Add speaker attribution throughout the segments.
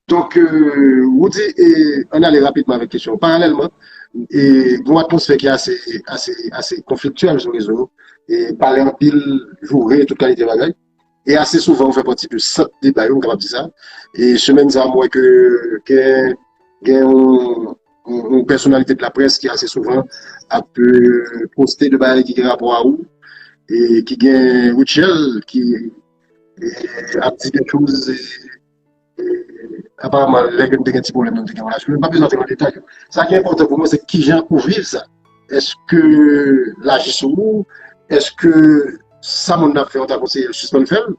Speaker 1: Donk Roody an n ale rapidman avèk kesyon. Paralèlman, gen yon atmosfè ki ase konfliktyèl sou rezo yo, pale anpil, joure, tout kalite bagay. E ase souvan ou fè pati de sant deba yo, m kapab di sa. E semèn sa a m wè ke gen yon pèsonalite de la près ki ase souvan ap poste de bagay ki gen rapò a ou. E ki gen Rutshelle ki ap di de chouz. Aparamman lè ke nou te gen ti pwoblèm yo nou te gen relasyon, men m pa bezwen antre nan detay yo. Sa ki enpòtan pou mwen se kijan ou viv sa. Eske l aji sou ou? Eske sa moun nan ap fè ou ta konseye l sispann fè l?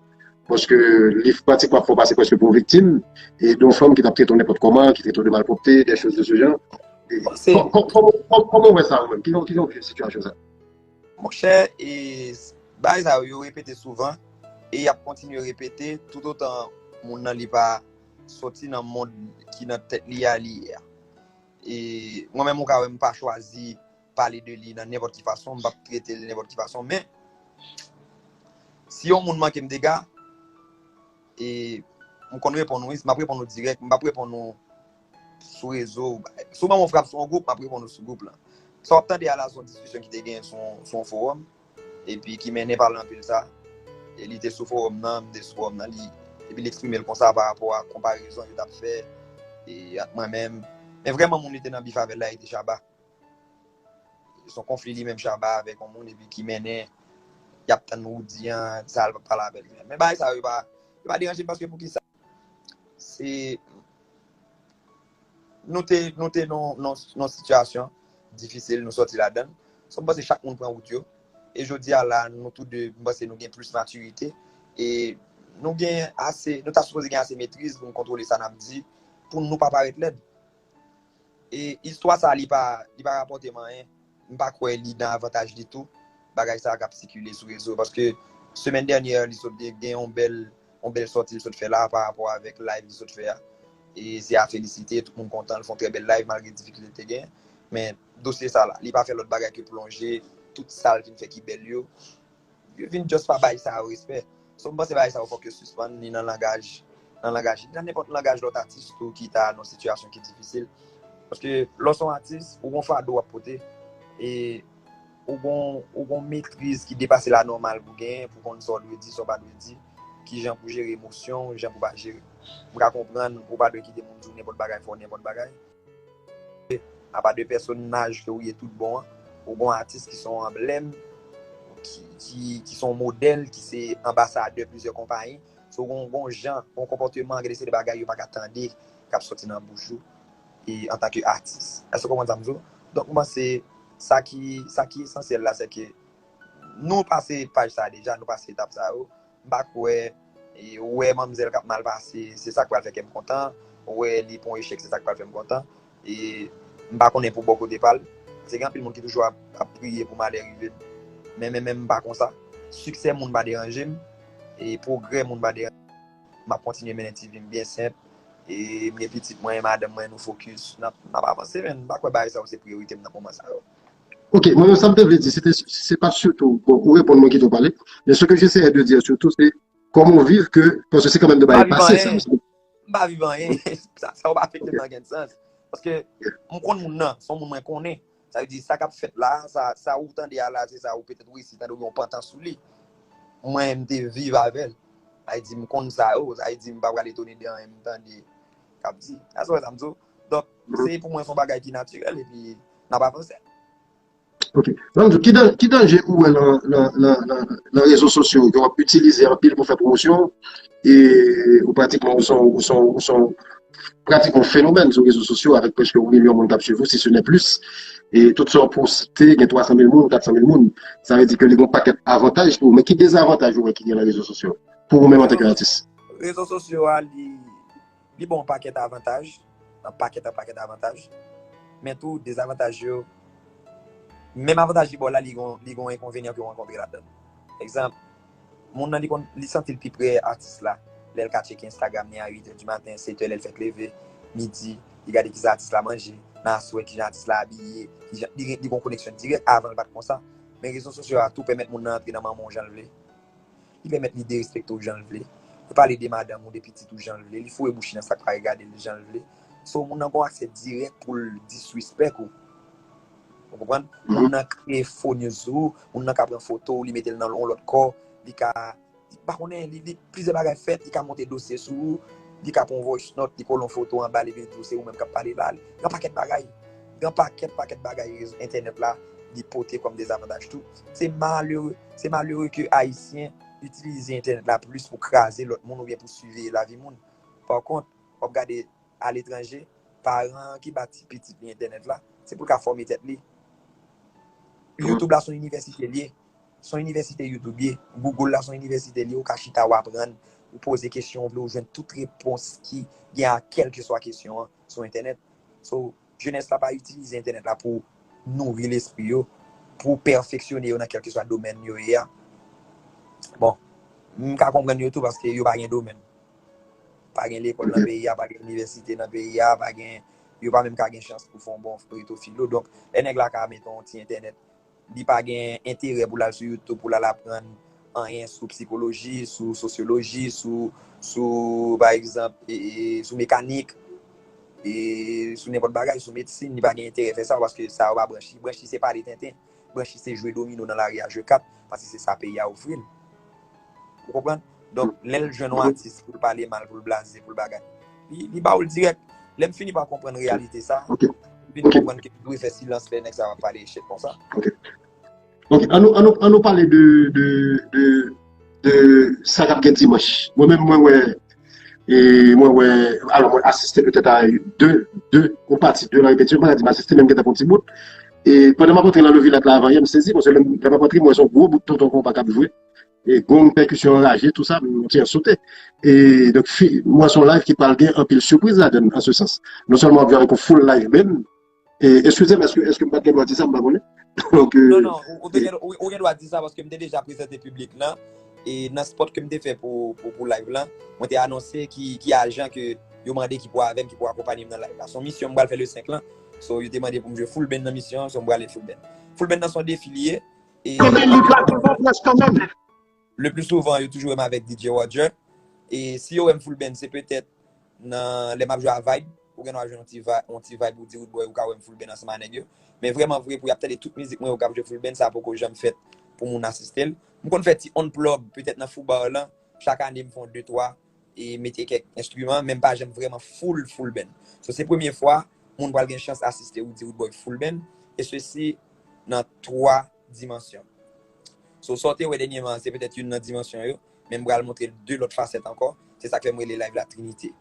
Speaker 1: Paske li pratikman ap fè ou pase prèske pou yon viktim e de yon fanm ki t ap trete w nenpòt kòman, ki trete w de malpwòpte, dè choz de se jan.
Speaker 2: Kòman
Speaker 1: ou wè sa ou menm? Kijan ou viv sitiyasyon sa? Monchè
Speaker 2: e bagay sa yo yo repete souvan e yap kontinye repete tout otan moun nan li pa soti nan mond ki nan tèt li a li ye a. E mwen menm ou ka wè m pa chwazi pale de li nan nenpòt ki fason, m pap trete l nenpòt ki fason men si yon moun manke m dega e m konn reponn wi, m ap reponn ou dirèk, m pap reponn ou sou rezo, si w ban m yon frap sou yon gwoup, m ap reponn ou sou gwoup lan. Sa w ap tande a la se yon diskisyon ki te genyen sou yon fowòm, epi ki mennen pa Lanpil sa, e li te sou fowòm nan, m te sou fowòm nan, epi li eksprime l konsa pa rapò a konparezon yo t ap fè ak mwen menm. Men vrèman moun li te nan bif avè l la e te Shabba. Se yon konfli li menm Shabba avèk yon moun epi ki mennen y ap tann Roody an, sa l p ap pale avè l. Men bagay sa yo pa deranje m paske poukisa? Se nou te nou te nan sitiyasyon difisil nou sòti ladan. So m panse chak moun pran wout yo. E jodi a la nou tou 2 m panse nou gen plis matirite e nou gen ase nou ta sipoze gen ase metriz pou nou kontwole sa n ap di pou nou pa parèt lèd. E istwa sa li pa li pa rapòtem anyen, m pa kwè li nan avantaj ditou bagay sa kap sikile sou rezo paske semèn dènyè li sot gen yon bèl yon bèl sòti li sot fè la parapò avèk live li sot fè a e se a felisite tout moun kontan li fon trè bèl live malgre difikilte li te gen men dosye sa la li pa fè lòt bagay ke plonje tout sal vin fè ki bèl yo Yo vin just pa bay sa yo respè. So m panse bagay sa yo fòk yo sispann ni nan langaj nan langaj ni nan nenpòt langaj lòt atis tou ki ta nan sitiyasyon ki difisil. Paske lè w se yon atis, ou gon fado w ap pote e ou gon ou gon metriz ki depase lanòmal pou genyen pou konn sa w dwe di, sa w pa dwe di, kijan pou jere emosyon w, jan pou pa jere. M ka konprann ou pa dwe kite moun di w nenpòt bagay, fè w nenpòt bagay. Apa de pèsonaj ke ou ye tout bon an, ou gon atis ki son anblèm, ki son modèl, ki se anbasadè plizyè konpayi. So ou gon gon jan, gon konpòteman, gen de seri de bagay yo pa ka tande k ap sòti nan bouch ou e antanke atis. Èske ou konprann sa m di w? Donk m panse sa ki sa ki esansyèl la sè ke nou pase paj sa deja, nou pase etap sa yo. M pa kwè, wè manmzèl k ap mal pase, se sa k pral fè kè m kontan, wè li pran yon echèk se sa k pral fè m kontan. E m pa konnen pou bò kote pa l, se gen anpil moun ki toujou ap priye pou malè rive m. Men men menm m pa konsa. Siksè moun pa deranje m, e pwogrè moun pa deranje m. M ap kontinye mennen ti vi m byen senp. E m gen pitit mwen, madanm mwen, nou fokis. N ap avanse men m pa kwè bagay sa yo se priyorite m nan moman sa yo. Ok, mwen
Speaker 1: menm sa m te vle di, se te, se pa sitou, bon, ou reponn mwen kite ou pale, men se ke jeseye de di sitou se, kòman ou viv ke, paske se kanmenm de bagay pase sa. M
Speaker 2: pa
Speaker 1: viv
Speaker 2: anyen, sa ou pa fèt nan gen sans, paske m konn moun nan, son moun mwen konnen, sa vle di sa k ap fèt la, sa ou tande a la, se sa ou petèt ou isi, tande ou gen yon pantan sou li, mwen m te viv avèl, sa vle di m konn sa yo, sa vle di m pa pral etone de anyen m tande k ap di, sa sou wè sa m di ou. Donk, se
Speaker 1: pou mwen son bagay ki natirèl epi n ap avanse. Ok. Lanmjou, ki danje ou wè nan rezo sosyo yo ke w ap itilize anpil pou fè pwomosyon ou? E ou pratikman ou son ou son ou son pratikman yon fenomèn sou rezo sosyo avèk prèske yon milyon moun k ap swiv ou si se nè plis. E tout sa w poste gen 300 mil moun, 400 mil moun. Sa vle di ke li gen yon pakèt avantaj pou ou. Men ki dezavantaj ou wè ki gen nan rezo sosyo pou ou menm antanke atis? Rezo sosyo a
Speaker 2: li. Li ba w pakèt avantaj, yon pakèt yon pakèt avantaj. Men tou dezavantaj yo, menm avantaj li ba w la li gen yon enkonvenyan ke w rankontre ladan. Egzanp, moun nan li konn, li santi l pi pre atis la lè l ka tcheke Instagram ni a 8 è di maten, 7 è lè l fèk leve, midi, li gade kisa atis la manje, nan aswè kijan atis la abiye, kijan, li gen yon koneksyon dirèk, avan l pa t konsa. Men rezo sosyo a tou pèmèt moun nan antre nan manman w jan l vle. Li pèmèt li derespekte w jan l vle. Li pale de madanm ou, de pitit ou jan l vle. Li foure bouch li nan sa k pa regade l jan l vle. So, moun nan gen yon aksè dirèk pou l disrespect ou. Ou konprann? Moun nan kreye fo news sou ou. Moun nan ka pran foto w, li mete l nan yon lòt kò. Li ka, m pa konnen, li, li, plizyè bagay fèt. Li ka monte dosye sou ou. Li ka pran yon voice note, li kole yon foto anba l epi l di w se ou menm k ap pale la. Gen yon pakèt bagay. Gen yon pakèt, pakèt bagay entènèt la li pote kòm dezavantaj tou. Se malere, se malere ke Ayisyen itilize entènèt la plis pou kraze lòt moun oubyen pou siveye lavi moun. Pa kont, wap gade a letranje, paran an ki ba ti pitit li entènèt la, se pou l ka fòme tèt li. Youtube la se yon inivèsite l ye, se yon inivèsite Youtube ye, Google la se yon inivèsite l ye, ou ka chita ou aprann, ou poze kesyon ou vle ou jwenn tout repons ki gen a kèlkeswa kesyon an sou entènèt. So. Jenès la pa itilize entènèt la pou nouri lespri yo, pou pèfeksyone yo nan kèlkeswa domèn yo ye a. Bon, m ka konprann yo tou paske yo pa gen domèn. Pa gen lekòl nan peyi a, pa gen inivèsite nan peyi a, pa gen, yo pa menm ka gen chans pou fè yon bon reto filo. Donk, lè nèg la ka meton yon ti entènèt, li pa gen enterè pou l al sou YouTube pou l al aprann anyen sou psikoloji, sou sosyoloji, sou pa egzanp, sou mekanik, sou nenpòt bagay, sou medsin, li pa gen enterè fè sa paske sa yo pa branch li. Branch li se pale tenten, branch li se jwe domino nan lari a, jwe kat, paske se sa peyi a ofri l. Ou konprann? Donk, lè l jwenn yon atis pou l pale mal, pou l blaze, pou l bagay, li ba ou l dirèk. Lè m fini pa konprann reyalite sa, m vin konprann ke m dwe fè silans lè nèg sa yo ap pale echèk konsa.
Speaker 1: Ok. An nou pale de sa k ap gen dimanch. Mwen menm, mwen wè. E mwen wè, alò mwen asiste petèt a 2, 2, yon pati 2 nan repetiyon, mwen pa ka di m asiste men m gen tan pran yon ti bout. E pandan m ap antre nan Lovilat la avan yè, m sezi paske lè m ap antre m wè se yon gwo bout tonton konpa k ap jwe. E gong, pèkisyon anraje, tou sa, m ti an sote. E donk fi, m wè se yon layv ki pral gen anpil sipriz ladann an se sans. Non sèlman w ap jwe avèk yon foul layvmenn. Eskize m, èske m pa t gen dwa di sa? M pa konnen. Non, non, ou te
Speaker 2: gen, ou gen dwa di sa paske m te deja prezante piblik lan e nan spot ke m te fè pou live lan, mwen te anonse ki ajan ke yo mande ki pou avè m, ki pou akonpanye m nan live la. Son misyon m pral fè le 5 lan. So, yo te mande pou m jwe full band nan misyon an, so m pral jwe full band. Full band nan son defi li ye. Konbyen liv la? Tou bon près kanmenm. Le plus souvent yo toujou wèm avèk DJ Roger e si yo wèm full band se petèt nan lè map jwe a vibe ou gen dwa jwenn yon ti vibe yon ti vibe ou di roodboy ou ka wèm full band ansanm a nèg yo men vrèman vre pou yap tande tout mizik mwen yo kap jwe full band sa poko janm fèt pou moun asistel m konn fè ti on plug petèt nan fou bar lan chak ane m fon 2 3 e mete kèk enstriman men m pa janm vrèman full full band so se premye fwa moun pral gen chans asiste Woody Woodboy full band e sesi nan 3 dimansyon so sa w te wè dènyeman an se petèt youn nan dimansyon yo men m pral montre 2 lòt fasèt ankò se sak fè m rele live la trinite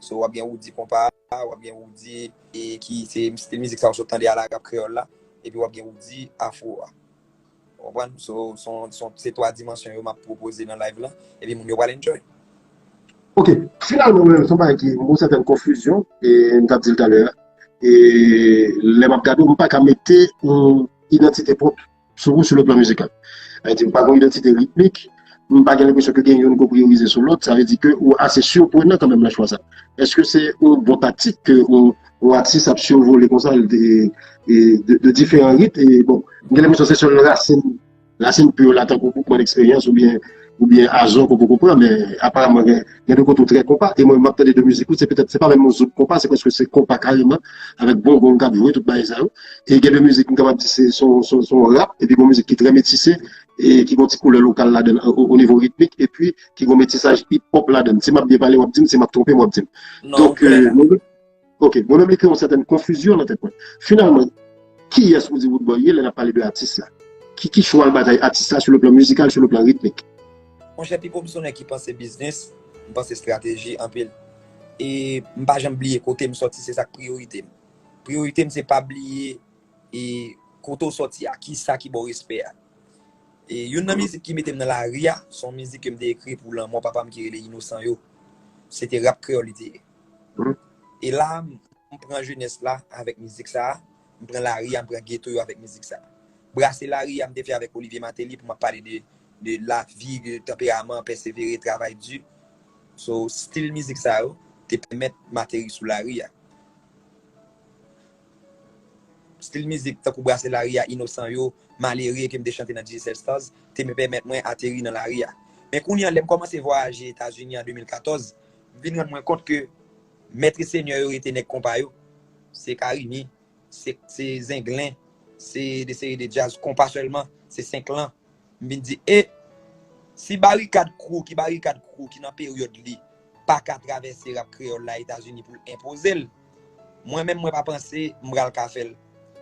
Speaker 2: so wap gen Woody konpa wap gen Woody e ki se stil mizik sa w sot tande a la rap kreyòl la epi wap gen Woody afro a Ou konprann? So, se 3 dimansyon yo map pwopoze nan live lan, epi moun yo pral enjoy. Ok,
Speaker 1: finalman mwen menm son bagay ki yon sèten konfizyon, e m tap di l talè a, e lè map gade w m paka mete yon idantite pwòp sou ou sou le plan mizikal. Sa vle di m pa gen yon idantite ritmik. m pa gen lenpresyon ke gen youn ke w priyorize sou lòt, sa vle di ke ou ase siprenan kanmenm nan chwa sa. Eske se yon bon taktik ke yon atis ap sirvole konsa de diferan rit e bon, m gen lenpresyon se sèl rasin, rasin pur la tankou boukman leksperyans oubyen oubyen Azò ke w poko pran men aparamman gen gen de kote w trè konpa e mwen m ap tande de mizik ou se petèt se pa menm yon zouk konpa se prèske se konpa kareman avèk bonbon k ap jwe tout bagay sa yo e gen de mizik m kapab di se son son rap epi gon mizik ki trè metise ki gen yon ti koulè lokal ladann o nivo ritmik epi ki gen yon metisaj hip hop ladann si map byen pale wap dim si map twonpem wap dim donk ok mwen menm li kreye yon sèten konfizyon nan tèt mwen finalman kiyès ou di Woodboy ye lè nap pale de atis la ki chwal batay atis la sou le plan mizikal sou le plan ritmik. Monchè Pipo
Speaker 2: m son nèg ki panse biznis m panse estrateji anpil e m pa janm bliye kotem sòti se sak priyorite m priyorite m se pa bliye E kote w soti a? Kisa ki ba w respè a? E youn nan mizik ki mete m nan lari a, se yon mizik ke m te ekri pou lanmò papa m ki rele Inosan yo. Se te rap kreyòl li te ye. E la a, m pran jenès la avèk mizik sa a, m pran lari a, m pran geto yo avèk mizik sa a. Brase lari a m te fè avèk Olivier Martelly pou m ap pale de lavi, de tanperaman, pèsevere, travay di. So, stil mizik sa yo te pèmèt m ateri sou lari a. Stil mizik tankou brase lari a inosan yo, malere ke m te chante nan Digicel Stars te pèmèt mwen ateri nan lari a. Men kounye an lè m kòmanse vwayaje Etazini an 2014, m vin rann mwen kont ke mèt e senyè yo rete nèg konpa yo, se Carimi, se Zenglen, se de seri de djaz konpa sèlman, se 5 lan. M vin di e, si barikad kou ki barikad kou ki nan peryòd li pa ka travèse rap kreyòl la Etazini pou l enpoze l, mwen menm mwen pa panse m pral ka fè l.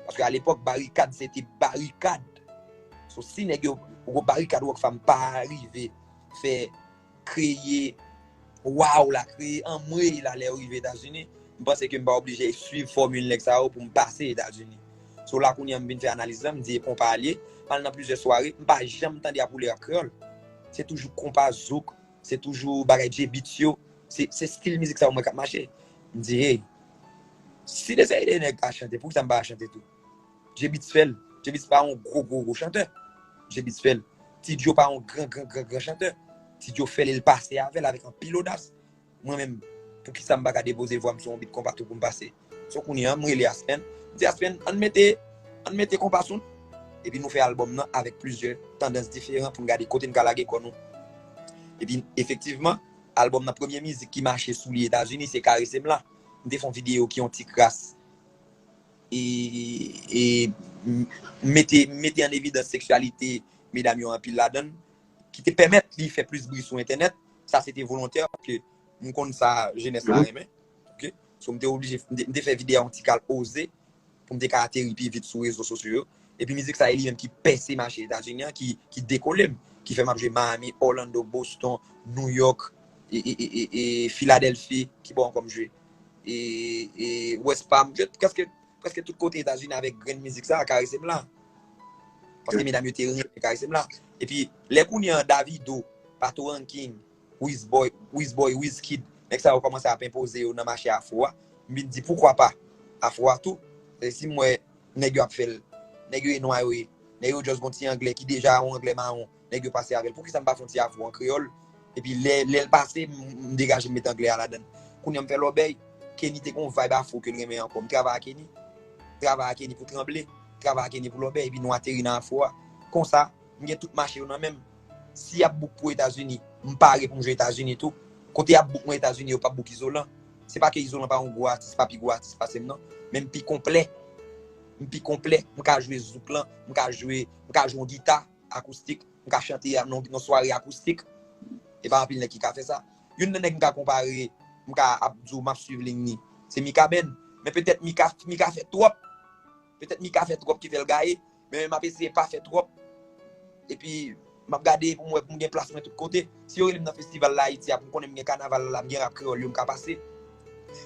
Speaker 2: Paske alepòk barikad se te barikad. So si nèg yo, barikad Rockfam pa rive fè. kreye waw la kreye anmweyy la lèw rive etazini m panse ke m pa oblije swiv fòmil nèg sa yo poum pase etazini so la kounya m vin fè analiz lan m di e konpa a l ye m al nan plizyè sware m pa janm tande ap woule rap kreyòl se toujou konpa zouk se toujou bagay djey beats yo se stil mizik sa yo m wè kap mache m di hey si de se de nèg ka chante poukisa m pa ka chante tou. Djebits fè l. Djebits pa yon gwo gwo gwo chantè. Djebits fè l. Ti Djo pa yon gran gran gran gran chantè. Ti Djo fè l e l pase avè l avèk anpil odas. Mwen menm, poukisa m pa ka depoze vwa m sou yon bit konpa tou pou m pase? So kounye a, m rele Aspen, m di Aspen, ann mete, ann mete konpa sou l. Epi nou fè albòm nan avèk plizyè tandans diferan pou n gade kote n ka lage kò nou. Epi, efektivman, albòm nan premye mizik ki mache sou li Etazini se Caresse-m-la. M te fè yon videyo ki yon ti kras. e mete mete an evidans seksyalite medam yo anpil ladan l ki te pèmèt li fè plis bri sou entènèt, sa se te volontè paske m konn sa jenès la renmen ok so m te oblije m te fè vide yon ti kal oze pou m te ka ateri pi vit sou rezo sosyo yo epi mizik sa e li menm ki pèse mache etazini an ki dekole m ki fè m ap jwe Miami, Orlando, Boston, Nouyòk e Filadelfi ki bò ankò m jwe? e west palm jwet preske tout kote etazini avek grenn mizik sa karesem la paske medam yo te renmen karesem la epi lè kounye an davido pato ranking wiz boy wiz boy wiz kid nèg sa yo komanse ap enpoze yo nan mache afro a m vin di poukwa pa afro a tou e si m wè nèg yo ap fèl nèg yo e nwa yo ye nèg yo just gon ti anglè ki deja yon anglè maron nèg yo pase avèl poukisa m pa fon ti afro an kreyòl epi lè lèl pase m degaje m met anglè a ladann kounye a m fè lòbèy Kenny te gon vibe afro kel renmen ankò m travay a Kenny travay a Kenny pou tranble travay a Kenny pou lòbèy epi nou ateri nan afro a konsa m gen tout mache yo nan menm si yap bouk pou etazini m pare pou m jwe etazini tou kote yap bouk mwen etazini yo pap bouk izolan se pa ke izolan pa yon gwo atis pa pi gwo atis pasem nan men m pi konplè m pi konplè m ka jwe zouk lan m ka jwe m ka jwe yon gita. Akoustik, m ka chante yon sware akoustik, e pa anpil nèg ki ka fè sa. Youn nan nèg m ka konpare, m ka ap di w m ap swiv liy li, se Mikaben. Men petèt Mika fè twòp, petèt Mika fè twòp ki fè l gaye, men m ap eseye pa fè twòp, epi m ap gade pou m wè pou m gen plas mwen tout kote. Si yo rele m nan festival la Ayiti a pou m konnen m gen kanaval la, m gen rap kreyòl yo m ka pase.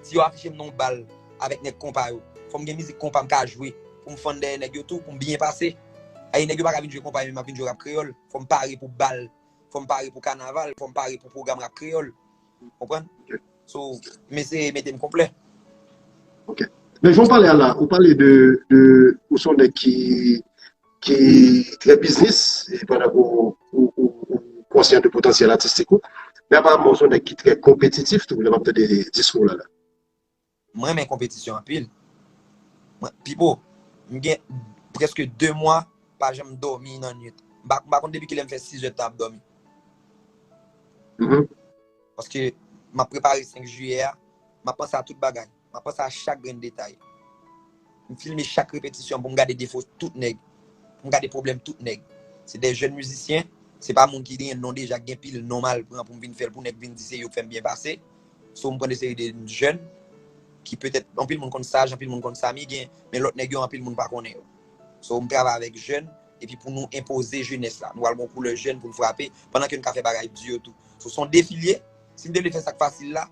Speaker 2: Si yo afiche m nan yon bal avèk nèg konpa yo, fò m gen mizik konpa m ka jwe pou m fann dèyè nèg yo tou, pou m byen pase. Ayi nèg yo pa ka vin jwe konpa epi m ap vin jwe rap kreyòl. Fò m pare pou bal, fò m pare pou kanaval, fò m pare pou pwogram rap kreyòl. Ou konprann? So, m eseye mete m konplè. Ok.
Speaker 1: Men jan w pale a la, ou pale de, ou se yon nèg ki. ki trè biznis e pandan ke ou konsyan de potansyèl atistik ou men aparamman ou son nèg ki trè konpetitif tou lè map tande diskou w la la. Mwen
Speaker 2: renmen konpetisyon anpil. Pipo, m gen prèske 2 mwa pa janm dòmi nan nwit. M pa konn depi kilè m fè 6 è tan ap dòmi. Paske map prepare 5 jiyè a, map panse a tout bagay. Mwen panse a chak grenn detay. M filme chak repetisyon pou m gade defo tout nèg, pou m gade pwoblèm tout nèg. Se de jèn mizisyen, se pa moun ki genyen non deja, ki gen pil non m al pran pou m vin fè l pou nèg vin di se yo k fè m byen pase. So m pran de seri de jèn ki petèt anpil moun konn Saj, anpil moun konn Samy gen, men lòt nèg yo anpil moun pa konnen yo. So m travay avèk jèn epi pou nou enpoze jenès la. Nou pral gen yon koulè jèn pou n frape pandan ke n ka fè bagay di yo tou. So s on defi l ye, si m te vle fè sa k fasil la,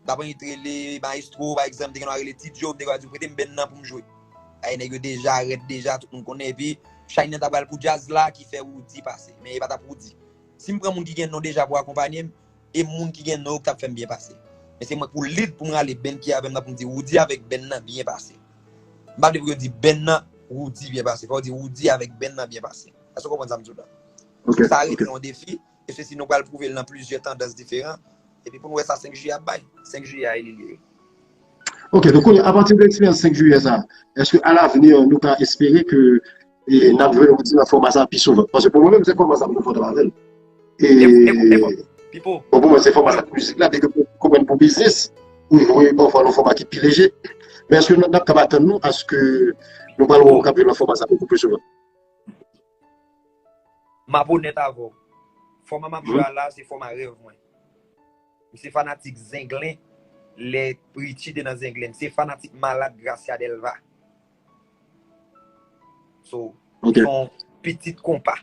Speaker 2: Daprè yon t rele maestro pa egzanp te gen yon a rele ti djo m te konn ap di prete m benn nan pou m jwe ayy nèg yo deja rèd deja tout moun konnen epi Shine nan ta pral pou djaz la ki fè Roody pase men e pa tap Roody si m pran moun ki gen non deja pou akonpanye m e moun ki gen non yo k tap fè m byen pase men se mwen k pou lead pou m rale benn ki avè m nan pou m di Roody avèk benn nan byen pase m pa vle pou yo di benn nan Roody byen pase fò yo di Roody avèk benn nan byen pase èske w konprann sa m di w la sa rete yon defi. E sesi nou pral pwouve l nan plizyè tandans diferan. Epi pou nou wè sa 5 jiyè ap bay. 5 jiyè a e li li ye. Ok, donk
Speaker 1: kounye a, apati de eksperyans 5 jiyè sa, èske a lavni nou ka espere ke n ap jwenn yon lòt fòma sa pi souvan? Paske pou mwen menm se fòma sa m konfòtab avè l. E Pipo. Bon pou mwen se fòma
Speaker 2: sa pou
Speaker 1: mizik la. Byenke mwen konprann pou biznis ou jwe pafwa nan fòma ki pi leje. Men èske nou ap kab atann nou aske nou pral wè ou k ap jwe nan fòma sa plis souvan?
Speaker 2: Map onèt avèw, fòma map jwe a la se fòma rèv mwen. M se fanatik Zenglen lè Richie te nan Zenglen. M se fanatik malad Gracia Delva. So, m se yon
Speaker 1: pitit
Speaker 2: konpa.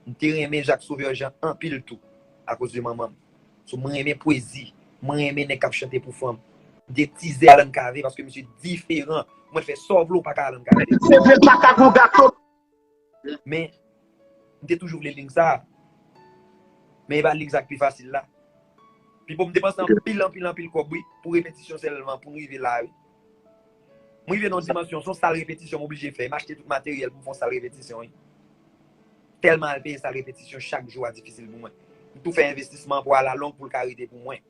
Speaker 2: M te renmen Jacques Sauveur Jean anpil tou akoz de manman m. So mwen renmen pwezi, mwen renmen nèg kap chante pou fanm. M gen tizè Alan Cavé paske misye diferan. Mwen fè sa w vle w pa ka Alan Cavé. Se vre l pa ka gon
Speaker 1: gato. Men,
Speaker 2: m te toujou vle ling sa a. Men e pa ling sa k pi fasil la. Pipo m depanse anpil anpil anpil kòb wi pou repetisyon sèlman pou m rive la wi. M rive nan yon dimansyon son sal repetisyon m oblije fè. M achte tout materyèl pou m fè yon sal repetisyon wi. Tèlman al peye sal repetisyon chak jou a difisil pou mwen. M tou fè envestisman an pou alalong pou l ka rete pou mwen.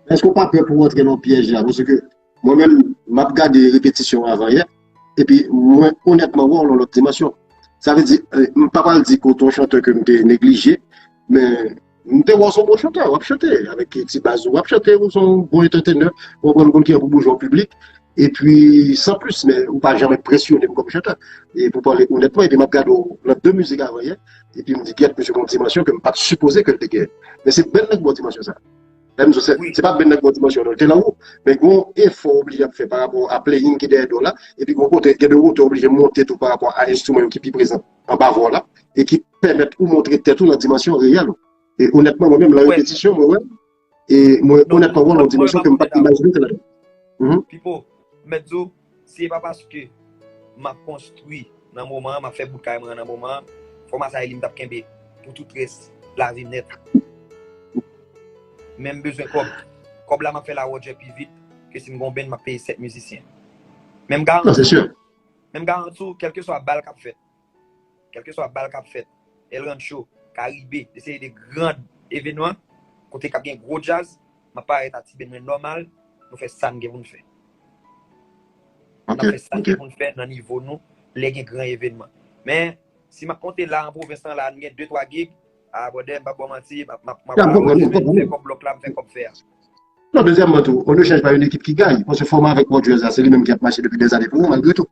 Speaker 2: Èske
Speaker 1: w pa pè pou w antre nan pyèj la? Paske mwen menm, m ap gade repetisyon avanyè, epi mwen onètman wè w nan lòt dimansyon. Sa vle di, m pa pral di ke w te yon chantè ke m te neglije, men. M te wè w se yon bon chantè, w ap chante avèk ti baz ou, w ap chante, ou se yon bon antètenè, ou konprann m konn ki jan pou bouge an piblik, epi san plis men ou pa janm enpresyone m kòm chantè, e pou pale onètman, epi m ap gade w nan de mizik avan yè, epi m di gèt misye gen yon dimansyon ke m pa t sipoze ke l te genyen, men se bèl nèg bon dimansyon sa, lè m di w se, se pa bèl nèg bon dimansyon
Speaker 2: non, li
Speaker 1: te nan wo, men gen yon efò w oblije ap fè parapò a playing ki dèyè do w la, epi gen yon kote, gen de wotè w oblije monte tou parapò a enstriman yo ki pi prezan anba vwa w la, e ki. pèmèt ou montre tèt ou nan dimansyon reyèl ou. E onètman mwen menm lan repetisyon mwen wè, e mwen onètman wè lan dimansyon ke
Speaker 2: m pat
Speaker 1: imajine ke ladan. Pipo, mèt
Speaker 2: di w, si e pa paske m ap konstwi nan moman an, m ap fè bout kay mwen an nan moman an, fòma sa e li m t ap kenbe pou tout rès lavi m nèt. Men m bezwen kòb. Kòb la m ap fè lawòdjè pi vit ke si m gen yon band m ap peye 7 mizisyen. Men m garanti w,
Speaker 1: men
Speaker 2: m garanti w kèlkeswa bal k ap fèt, Kèlkeswa bal k ap fèt, El Rancho, Karibe, de seri de gran evenman kote k ap gen gwo djaz, m ap parèt a Tiben mwen nòmal, nou fè sa n gen pou n fè. N
Speaker 1: ap fè
Speaker 2: sa n gen pou n fè nan nivo
Speaker 1: nou
Speaker 2: lè gen gran evenman. Men, si m ap konte la an pwovens lan la a nou gen de twa gig, a bròdè m p ap ba w manti, m ap m ap
Speaker 1: fè kòb blòk la, m fè
Speaker 2: kòb fè a. Non, dezyèmman
Speaker 1: tou, Onechaj pa yon ekip ki gay, paske Fòma avèk Pòdjwèz la se li menm ki ap mache depi dèzane pou ou malgre tou.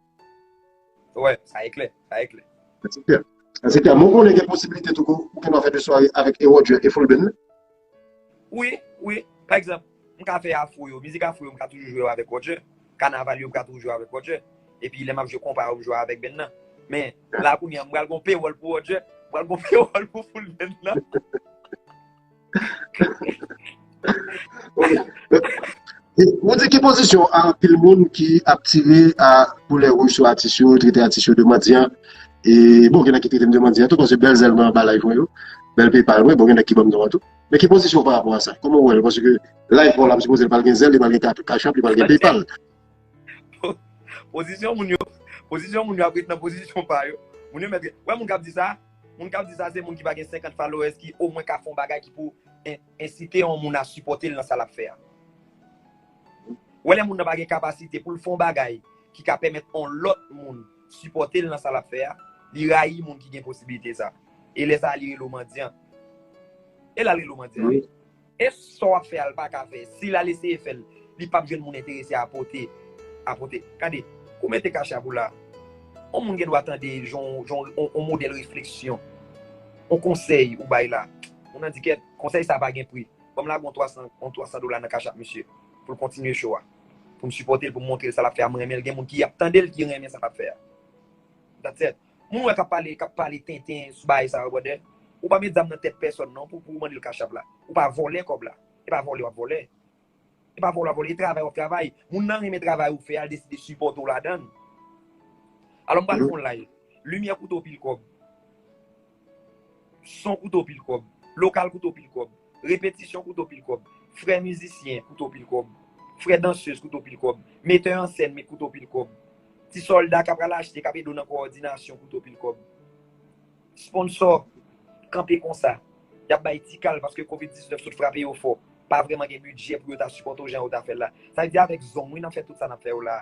Speaker 1: Wè,
Speaker 2: sa e klè, sa e klè. Enspektè,
Speaker 1: Enspektè, mwen konnen gen posibilite tou pou ou kapab fè 2 sware avèk E. Roger e Foulbin wi?
Speaker 2: Wi, wi. Pa egzanp, m ka fè afro yo, mizik afro yo m ka toujou jwe yo avèk Roger, kanaval yo m ka toujou jwe yo avèk Roger, epi lè m ap jwe konpa yo m jwe avèk band nan. Men, la kounye a m pral gen yon pewòl pou Roger, m pral gen yon pewòl pou Foulbin nan.
Speaker 1: Mwen di ki pozisyon a anpil moun ki ap tire a boulè wouj sou atis yo, trete atis yo de mandyan. E bon gen nèg ki trete m de mandyan tou paske bèl zèl mwen anba live mwen yo, bèl PayPal mwen, bon gen nèg ki ban m non an tou. Men ki pozisyon w parapò a sa? Kòman w wè l? Paske live pa w la m sipoze l pa l gen zèl, li pa l gen cash app, li pa l gen PayPal.
Speaker 2: Pozisyon moun yo, pozisyon moun yo ap ret nan pozisyon pa yo. Moun yo mèt ret. Ou wè moun k ap di sa? Moun kap di sa se moun ki pa gen 50 followers ki o mwen ka fè yon bagay ki pou ensite yon moun a sipòte l nan sa lap fè a. Ou wè lè moun nan pa gen kapasite pou l fè yon bagay ki ka pèmèt yon lòt moun sipòte l nan sa lap fè a, li rayi moun ki gen posibilite sa. E lè sa li rele w mandyan. E lè al rele w mandyan. Es
Speaker 1: sa wap
Speaker 2: fè a l paka fè? Si lal eseye fèl li pap jwenn moun enterese a pote a pote gade ou mete cachapp ou la on moun gen dwa tande jan jan on modèl refleksyon on konsèy ou bay la moun nan di kèt konsèy sa pa gen pri banm lage on 300 on 300 dola nan cachapp misye pou l kontinye show a pou m sipòte l pou m montre l sa lap fè a m renmen l gen moun ki ap tande l ki renmen sa lap fè a that's it. Moun wè kap pale kap pale tenten sou bagay sa yo brother ou pa met zam nan tèt pèsòn non pou pouw mandel cash app la ou pa vòlè kòb la e pa vòlè wap vòlè e pa vòlè wap vòlè e travay wap travay moun nan renmen travay ou fè al deside sipòte w ladann alò m pral fon live limyè koute w pil kòb. son kouto pil kòb, lokal kouto pil kòb, repetisyon kouto pil kòb, frè mizisyen kouto pil kòb, frè dansez kouto pil kòb, metè an sèn met kouto pil kòb, ti sòlda ka pral achte, kap ede w nan kowòdinasyon kouto pil kòb. Sponsò kanpe konsa, yap bay ti kal paske covid 19 sot frape yo fò, pa vrèman gen bidjè pou yo ta sipòte w jan yo ta fè l la. Sa vle di avèk zong wi nan fè tout sa nap fè yo la.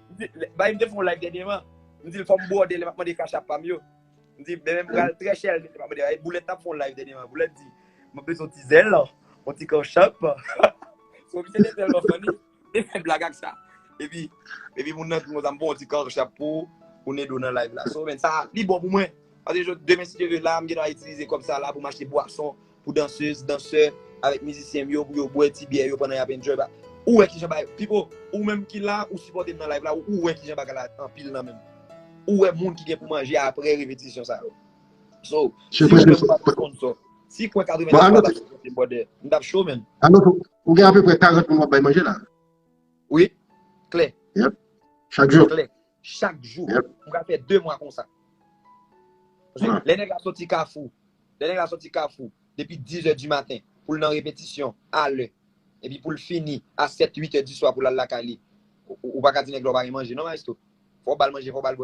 Speaker 2: Bae m te fè yon live dènyeman, m di l fò m bwode lè m ap mande cash app pa m yo. M di men m pral trè chè lè m ap mande. E Boulèt t ap fè yon live dènyeman, Boulèt di, m ap bezwen yon ti zèl, yon ti cash app. So misye te tèlman funny, m te fè blag ak sa. Epi, epi moun nan di m konsa, m pran yon ti cash app pou ou, pou Nedo nan live la. So men sa, li bon pou mwen. Paske demen si Dye ve la, m gen dwa itilize kòb sa la pou m achte bwason, Pou dansez, dansè, avèk mizisyen m yo pou yo bwè ti byè yo pandan yap enjoy ba ou wè kijan bagay Pipo, ou menm ki la ou sipòte m nan live la ou wè kijan bagay la anpil nan menm ou wè moun ki gen pou manje aprè repetisyon sa yo So, si ou menm ou pa gen sponsò si kwen 90 moun pa ta sipòte m brother m tap cho menn. Arnotho, ou gen
Speaker 1: apeprè 40 moun wap bay manje la? Wi,
Speaker 2: klè. Yep,
Speaker 1: chak jou. Klè, chak
Speaker 2: jou. Yep. M ka fè 2 mwa
Speaker 1: konsa.
Speaker 2: Paske lè nèg la soti kafou Lè nèg la sòti kafou depi 10 è di maten pou l nan repetisyon a lè epi pou l fini a 7, 8 è di swa pou l al lakay li, ou pa ka di nèg la ou pa gen manje non maestro. Fò w ba l manje, fò w ba l bwè.